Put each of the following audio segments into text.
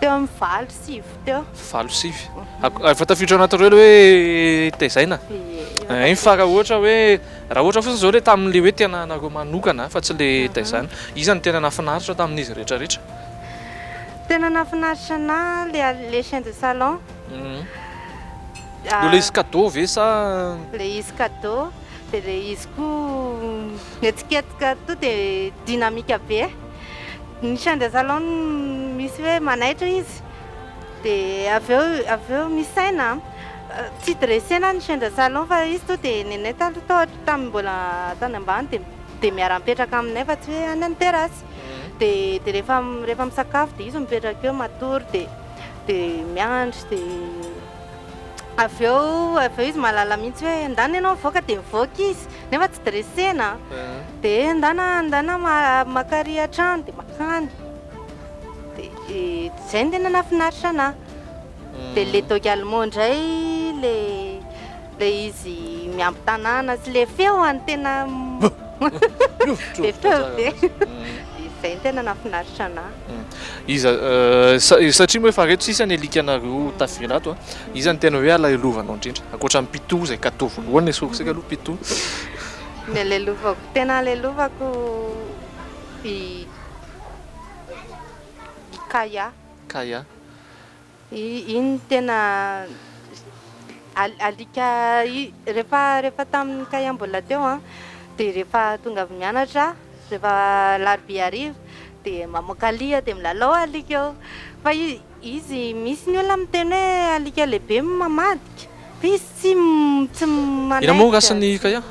Teo amin'ny valo sivy teo. Valo sivy. Efa tafiditra ao anatin'ireo ilay hoe tezaina. Hainy fa raha ohatra hoe raha ohatra fotsiny izao ilay tamin'ilay hoe tena anareo manokana fa tsy ilay tezaina. Iza no tena nahafinaritra tamin'izy rehetra rehetra? Tena nahafinaritra anahy ilay les chiens de salon. Ilay izy cadeau ve sa? Ilay izy cadeau, dia ilay izy koa mihetsiketsika tonga dia dynamique be. Ny chien de salon misy hoe manaitra izy dia avy eo avy eo misaina an. Tsy dressena ny chien de salon fa izy tonga dia nenay taloha tao tamin'ny mbola tany ambany dia dia miara-mipetraka aminay fa tsy hoe any an-terasy. Dia dia rehefa rehefa misakafo dia izy mipetraka eo matory dia dia miandry dia avy eo avy eo izy mahalala mihitsy hoe ndana ianao mivoaka dia mivoaka izy nefa tsy dressena an. Dia andana andana maka ary hatrany dia makany dia izay no tena nahafinaritra anà. Dia le dogue allemand indray le le izy miamby tanàna sy le feony tena be feo be. Izay no tena nahafinaritra anà. Iza satria moa efa reto sisa ny alika anareo tafiditra ato a, iza no tena hoe alahelovanao indrindra ankoatra ny pito izay kato voalohany ny source-ko aloha pito. Nialelovako, tena alelovako i i Kaya. Kaya. Iny tena alika rehefa rehefa tamin'i Kaya mbola teo an, dia rehefa tonga avy mianatra rehefa alarobia hariva dia mamoaka lia dia milalao alika eo fa izy. Izy misy ny olona miteny hoe alika lehibe no mamadika, fa izy tsy tsy manaiky. Inona moa race-n'i Ikaya?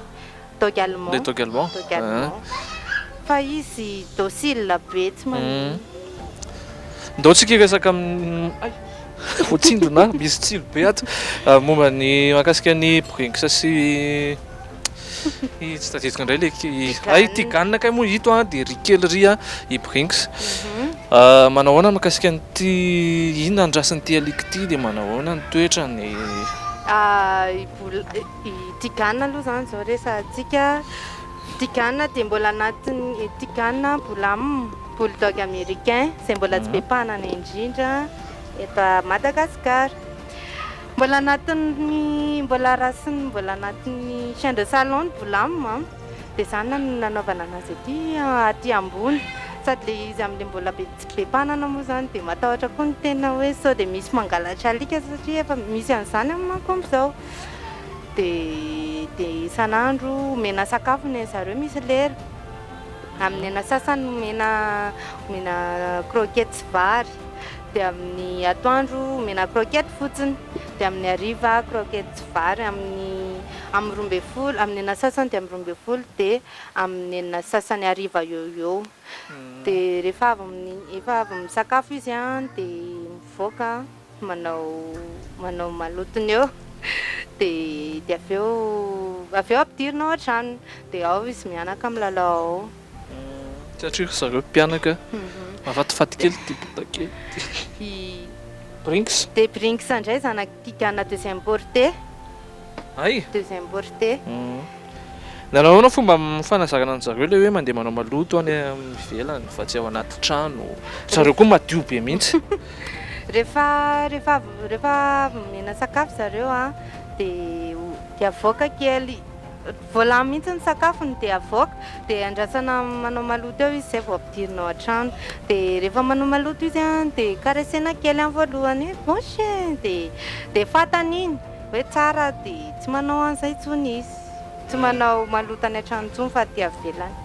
Dog allemand. Le dog allemand. Dog allemand. Fa izy docile be tsy mamono. Ndao tsika hiresaka amin'ny ay! voatsindrona misy tsilo be ato momba ny mahakasika ny Brinks sy. Tsy tadidiko indray le ay tigana kay moa ito an dia ry kely ry a i brinks mhm. manao ahoana mikasika an'ity ina andrasin'ity alika ity dia manao ahoana ny toetrany ah, i tigana aloha zany zao resantsika tigana dia mbola anatin'ny tigana bolam bulldog américain izay mbola tsy be mhm. mpanana indrindra eto madagasikara Mbola anatin'ny mbola rasin'ny mbola anatin'ny chien de salon ny boulame a, dia izany no nanaovana an'azy aty aty ambony, sady ilay izy amin'ilay mbola be tsy be mpanana moa izany dia matahotra koa ny tena hoe sao dia misy mangalatra alika satria efa misy an'izany amin'ny manko amin'izao, dia dia isan'andro omena sakafo ny an'ny zareo misy lera, amin'ny aina sasany omena omena croquettes sy vary. dia amin'ny atoandro omena croquette fotsiny dia amin'ny hariva croquette sy vary amin'ny amin'ny roa ambin'ny folo amin'ny enina sasany dia amin'ny roa ambin'ny folo dia amin'ny enina sasany hariva eo ho eo dia rehefa avy amin'ny efa avy misakafo izy an dia mivoaka manao manao malotony eo dia dia avy eo avy eo ampidirina ao an-tranony dia ao izy mianaka milalao ao Satria ry zareo mpianaka mahafatifaty kely ity bota kely ity. Brinks. Dia Brinks indray zanaky Tigana deux importés. Hay. Deux importés. Nanao ahoana fomba fanazarana an'zareo le hoe mandeha manao maloto any amin'ny ivelany fa tsy ao anaty trano. Ry zareo koa madio be mihitsy. Rehefa rehefa avy rehefa avy nomena sakafo zareo an dia dia avoaka kely. Vao lany mihitsy ny sakafony dia avoaka dia andrasana manao maloto eo izy izay vao ampidirina ao an-trano. Dia rehefa manao maloto izy dia karesena kely voalohany hoe bouche e! dia dia fantany iny hoe tsara dia tsy manao an'izay intsony izy. Tsy manao maloto any an-trano intsony fa aty avelany.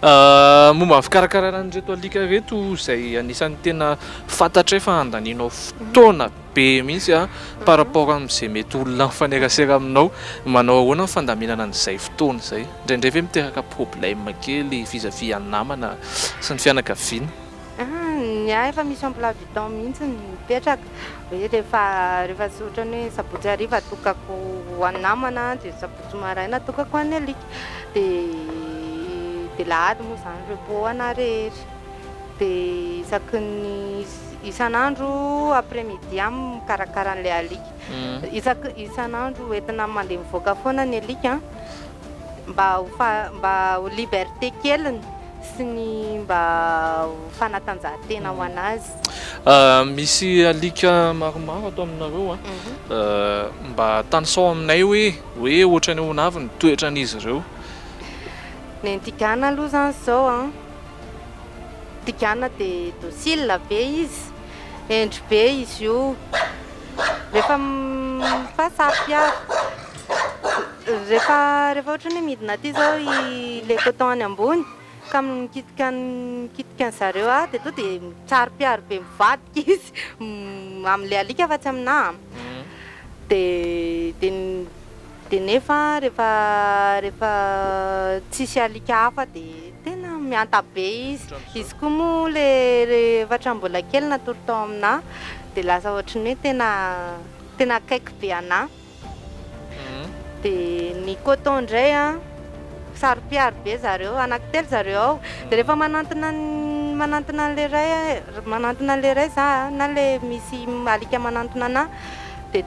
Momba ny fikarakarana an'ireto alika ireto izay anisan'ny tena fantatray fa andanianao fotoana be mihitsy a par rapport amin'izay mety olona mifanerasera aminao, manao ahoana ny fandaminana an'izay fotoana izay? Indraindray ve miteraka problème kely vis à vis an'ny namana sy ny fianakaviana? Ny ahy efa misy emploi du temps mihitsy ny mipetraka hoe rehefa rehefa tsy ohatran'ny hoe sabotsy hariva atokako ho an'ny namana dia sabotsy maraina atokako ho an'ny alika dia dia alahady moa izany repos ho anà rehetra. Dia isaky ny isan'andro après midi aho mikarakara an'ilay alika. Isaky ny isan'andro entina mandeha mivoaka foana ny alika mba ho mba ho liberté keliny sy ny mba ho fanatanjahantena ho an'azy. Misy alika maromaro ato aminareo a, mba tanisao aminay hoe hoe ohatran'ny ahoana avy ny toetran'izy ireo? Ny anti-gana aloha izany izao a. Tigana dia docile be izy, hendry be izy io, rehefa mifaha sampy avy, rehefa rehefa ohatra hoe midina aty zao i le coton any ambony ka mikitika mikitika an'zareo ahy dia tonga dia mitsari-piaro be mivadika izy amin'ilay alika fa tsy aminahy an, dia dia ny. Dia nefa rehefa rehefa tsisy alika hafa dia tena mihanta be izy. Izy koa moa le efatra mbola kely natory tao aminà dia lasa ohatry ny hoe tena tena akaiky be anà. Dia ny coton indray an, saro-piaro be zareo. Anankitelo zareo ao. Dia rehefa manantona ny manantona an'ilay iray manantona an'ilay iray za na le misy alika manantona anà dia.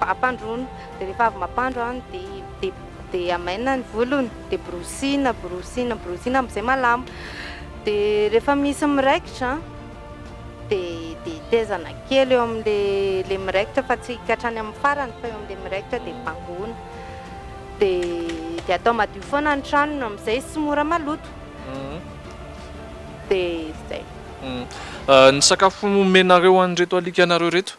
Ampandroina, dia rehefa avy mampandro an, dia dia amainina ny volony, dia borosina, borosina, borosina amin'izay malama. Dia rehefa misy miraikitra an, dia dia tetezana kely eo amin'ilay ilay miraikitra fa tsy ka hatrany amin'ny farany fa eo amin'ilay miraikitra dia bangoina. Dia dia atao madio foana ny tranony amin'izay sy mora maloto. Dia izay. Ny sakafo omenareo an'ireto alikanareo ireto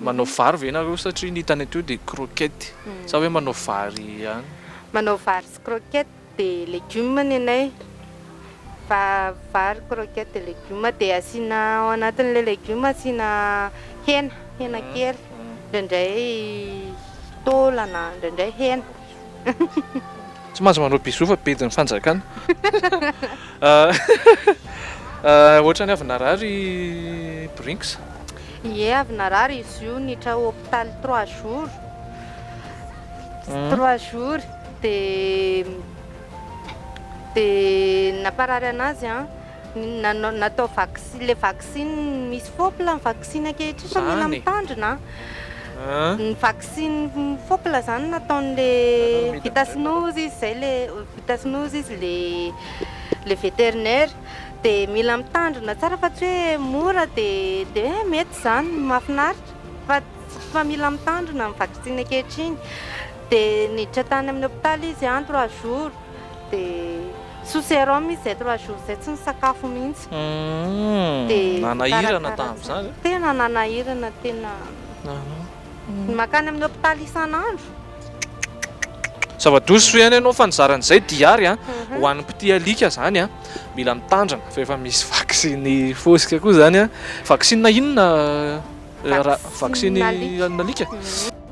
Manao vary ve nareo satria ny hitany teo dia croquette sa hoe manao vary ihany? Manao vary sy croquette dia legume ny anay fa vary croquette dia legume dia asiana ao anatin'ilay legume asiana hena, hena kely, indraindray taolana, indraindray hena. Tsy mahazo manao bisous fa bedin'ny fanjakana. Ohatrany avy narary i Brinks. Ie avy narary izy io niditra hôpital trois jours. Trois jours dia dia namparary anazy an. Nanao, natao vaksi, ilay vaksiny misy fôpla ny vaksiny ankehitriny fa mila Zany e. mitandrina a! An? Ny vaksiny fôpla izany nataon'ilay vita sinoa izy izay le vita sinoa izy ilay ilay vétérinaire dia mila mitandrina tsara fa tsy hoe mora dia dia hoe mety izany, mahafinaritra fa ts- fa mila mitandrina ny vaksiny ankehitriny dia niditra tany amin'ny hôpitaly izy an trois jours. Dia sous sérum izy izay trois jours izay tsy nisakafo mihitsy. Dia nanahirana tamin'izany? Tena nanahirana tena. Ny mankany amin'ny hôpitaly isan'andro. Zava-doza soa ihany ianao fa nizara an'izay Diary a! Ho an'ny mpitia alika izany a, mila mitandrina fa efa misy vaksiny fosika koa izany a. Vaksina inona? Vaksiny an'alika?